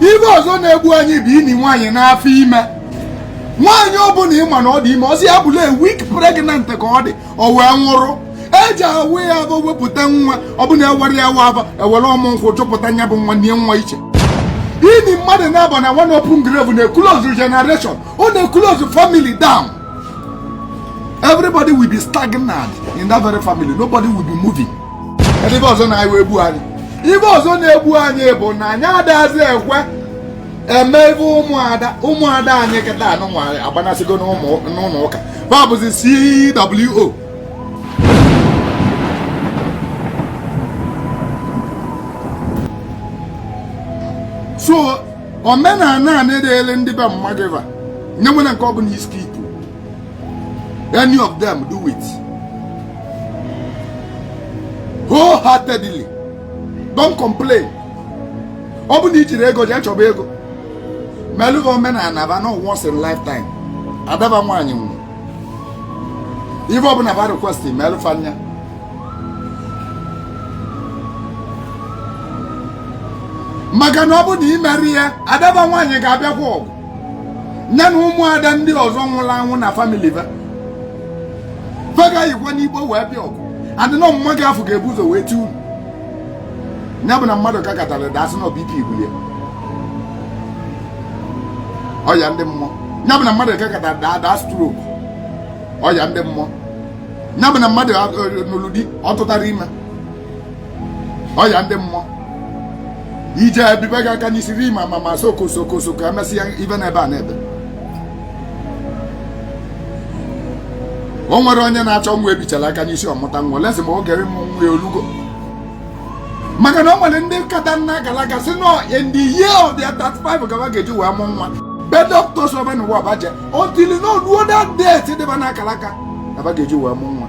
ife ọzọ na-egbu anyị bụ ini nwaanyị n'afọ ime nwaanyị ọbụla ịma na ọ dị ime ọ sị ya bụlụ a week pregnant ka ọ dị o wee nwụrụ eje awa ya afọ wepụta nwa ọ bụ na awarọ ya afọ ewere ọmụ nkwụ chụpụta nya bụ nwa nie nwa iche ini mmadụ naabọ na one open grave na-eclose generation ọ na-eclose family down everybody will be stagnant in that very family nobody will be moving ife ọzọ na anyị egbu anyị ife ọzọ na-egbu anyị bụ na anyị adazi ekwe eme ife ụmụada ụmụada anyị kịtaa nụnwa agbanasịgo n'ụlọ ụka ba bụzi CWO so omenala anị dịrị ndị be mmadụ enwerọ nke ọ bụla i skip any of them do it wholeheartedly don't complain ọ bụ na i jirọ ego jee chọba ego melụ va omenala ba na ọ once in lifetime adaba nwaanyị nwụrụ ife ọbụla ba request melụ fa nya maka na ọ bụ na i merọ ya adaba nwaanyị ga-abịakwa ọgụ nya na ụmụada ndị ọzọ nwụrụ anwụ na family ba fa ga-eyikwa n'igbo wee bịa ọgụ adịnọ mma gị afụ ga-ebu ụzọ wee ti unu ya bụ na mmadụ ka katara daa sị na ọ bụ ike ibulie ọya ndị mmụọ ya bụ na mmadụ ka katara daa stroke ọya ndị mmụọ ya bụ na mmadụ nụrụ di ọ tụtarọ ime ọya ndị mmụọ i jee ebibe gị aka n'isi ri ma ma ma soko soko soko emesịa ife n'ebe a n'ebe o nwere onye na-achọ nwa ebichara aka n'isi ọ mụta nwa lezie ma oge ịmụ nwa ya o lugo maka na o nwere ndị nkata na akara aka sị na ọ in the year of their 35 ka ba ga-eji wee mụ nwa be doctors ọ bụ n'ụwa ba je until na o luo that date dị ba na akara aka ka ba ga-eji wee mụ nwa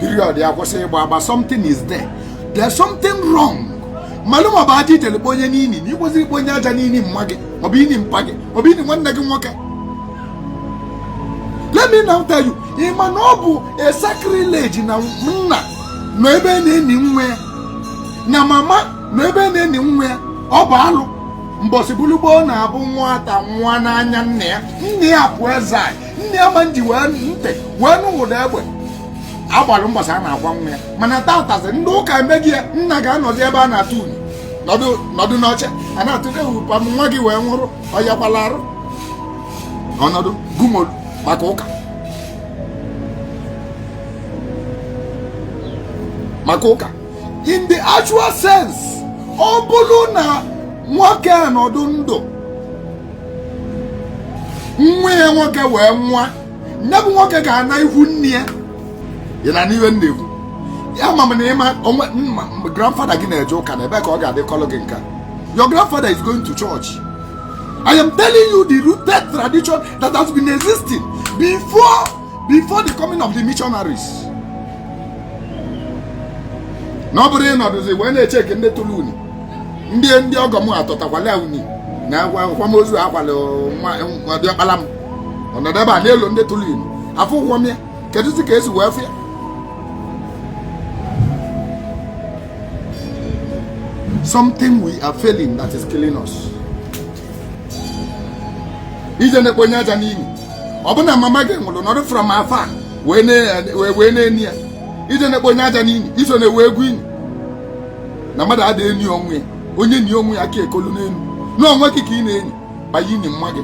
period ya kwụsị ịgba agba something is there there's something wrong malụ ma ọ bụ aja i jele kpo onye n'ini na i kwesịrị ikpo onye aja n'ini mma gị maọbụ ini mpa gị maọbụ ini nwanne gị nwoke let me now tell you ị ma na ọ bụ a sacrilege na nna nọ ebe a na-eni nwa ya na mama nọ ebe a na-eni nwa ya ọ bụ alụ mbọsị bulu gboo na ọ bụ nwata nwụọ n'anya nne ya nna ya pụọ ezi anyị nne ya ama ejikwa ntị wee nụ ụda egbe agbara mbọsị a na-akwa nwa ya mana tatazị ndị ụka emeghị ya nna ga-anọdụ ebe a na-atụ anị nọdụ n'oche a na-atụte ụpa nwa gị wee nwụrụ ọyakwala arụ ọ nọdụ gumolu maka ụka maka ụka in the actual sense ọ bụrụ na nwoke a nọdụ ndụ nwa ya nwoke wee nwa nya bụ nwoke ga-ana ihu nne ya ya na n'ihe na-ekwu ya ma na ịma onwe grandfather gị na-eje ụka na ebe ka ọ ga-adịkọlụ gị nka your grandfather is going to church I am telling you the rooted tradition that has been existing before before the coming of the missionaries na ọ bụrụ ị nọdụzi wee na-echeki ndị tụrụ unu ndị ndị ọgọ m atọtakwala unu na akwamozu akwala diọkpala m ọ nọdụ ebe a n'elu ndị tụrụ unu afọ ụgwọ m ya kedụzi ka e si wee fụ ya something we are failing that is killing us. ije na-ekponye aja n'ini ọ bụ na mama gị nwụrụ nọdụ from afar wee na-eni ya ije na-ekponye aja n'ini iso na-ewe egwu ini na mmadụ adịghị eni onwe ya onye nie onwe ya aka ekolu n'elu n'onwe gị ka ị na-eni banye ini mma gị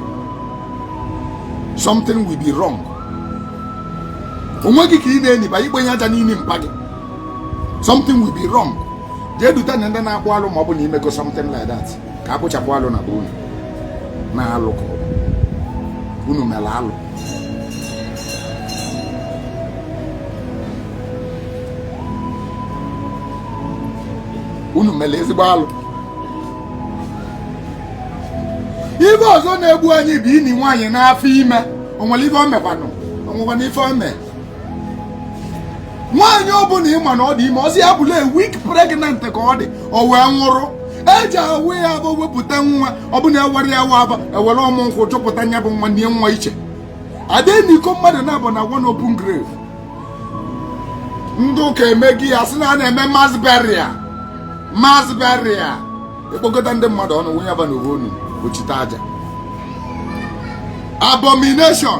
something will be wrong onwe gị ka ị na-eni banye ikponye aja n'ini mpa gị something will be wrong jee dute ndị na-akpụ alụ ma ọ bụ na i mego something like that ka a kpụchapụ alụ na be unu na alụ ka unu mere alụ unu mere ezigbo alụ ife ọzọ na-egbu anyị bụ ini nwaanyị n'afọ ime o nwere ife o mekwanụ o nwekwana ife o mee nwaanyị ọbụla ị ma na ọ dị ime ọ sị ya bụlụ a week pregnant ka ọ dị o wee nwụrụ e ji awa ya afọ wepụta nwa ọ bụ na ewere ya waa afọ ewere ọmụ nkwụ chụpụta nya bụ nwa nie nwa iche a da enikọ mmadụ naabọ na one open grave ndị ụka emegi ya sị na a na-eme mass burial mass burial e kpokọta ndị mmadụ ọnụ wụnye fa n'ofu ọnụ ochite aja abomination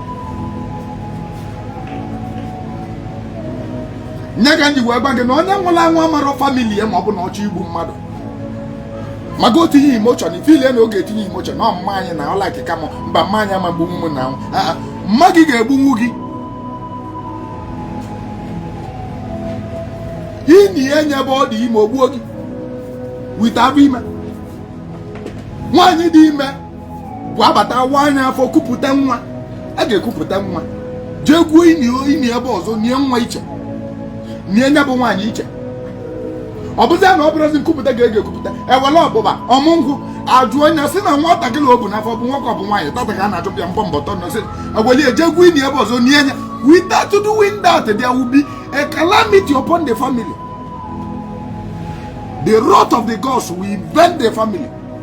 nya ka m ji wee gwa gị na onye nwụrụ anwụ amarọ family ya ma ọ bụ na ọ chọ igbu mmadụ maka itinye emotion ị feel na ị ga-etinye emotion na ọ mma anyị na ọla akịka m mba mma anyị ama egbunwu m na mma gị ga-egbunwu gị ini ya nye ebe ọ dị ime o gbuo gị without ime nwaanyị dị ime abata awaa nya afọ kupụta nwa a ga-ekupụta nwa jee gwuo ini ebe ọzọ nie nwa iche nie nya bụ nwaanyị iche ọ bụzi na ọ bụrụzi nkupụta ga ege ekupụta ewele ọbụba ọmụ nkwụ ajụ onye si na nwatakịrị o bu n'afọ bụ nwoke ọ bụ nwaanyị tata ka a na-achụpụ ya mbọ mbọ tọ nọsị eweli eje gwuo ini ebe ọzọ nie nya without doing that there will be a calamity upon the family the wrath of the gods will be on the family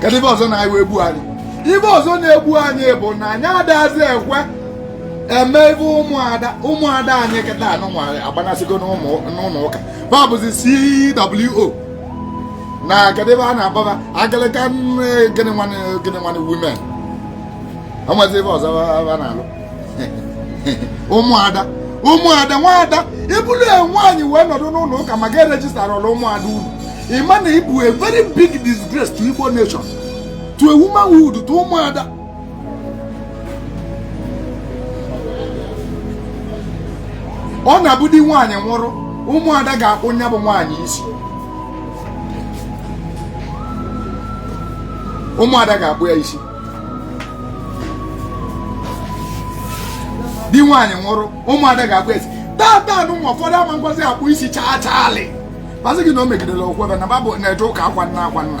kedu ive ọzọ na-ewe egbu anyị ive ọzọ na-egbu anyị bụ na anyị adazi ekwe eme ive ụmụada ụmụada anyị kịta anụ nwa agbanasịgo n'ụlọ ụka va abụzi CWO na kedu ive a na-akpọ va Anglican gịnị nwanne women onwezi ive ọzọ a na-alụ ụmụada ụmụada nwaada ị bụrụ nwaanyị wee nọdụ n'ụlọ ụka ma gị erejistarọ ụmụada unu ịma na ịbụ a very big disgrace to Igbo nation to a womanhood to ụmụada ọ na-abụ di nwaanyị nwụrụ ụmụada ga-akpụ nya bụ nwaanyị isi ụmụada ga-akpụ ya isi di nwaanyị nwụrụ ụmụada ga-akpụ ya isi tata anụ nwa ụfọdụ ama ekwezi akpụ isi chaa chaalị va asị gị na o megidere okwukwe va na va bụ na-eje ụka akwa nna akwa nna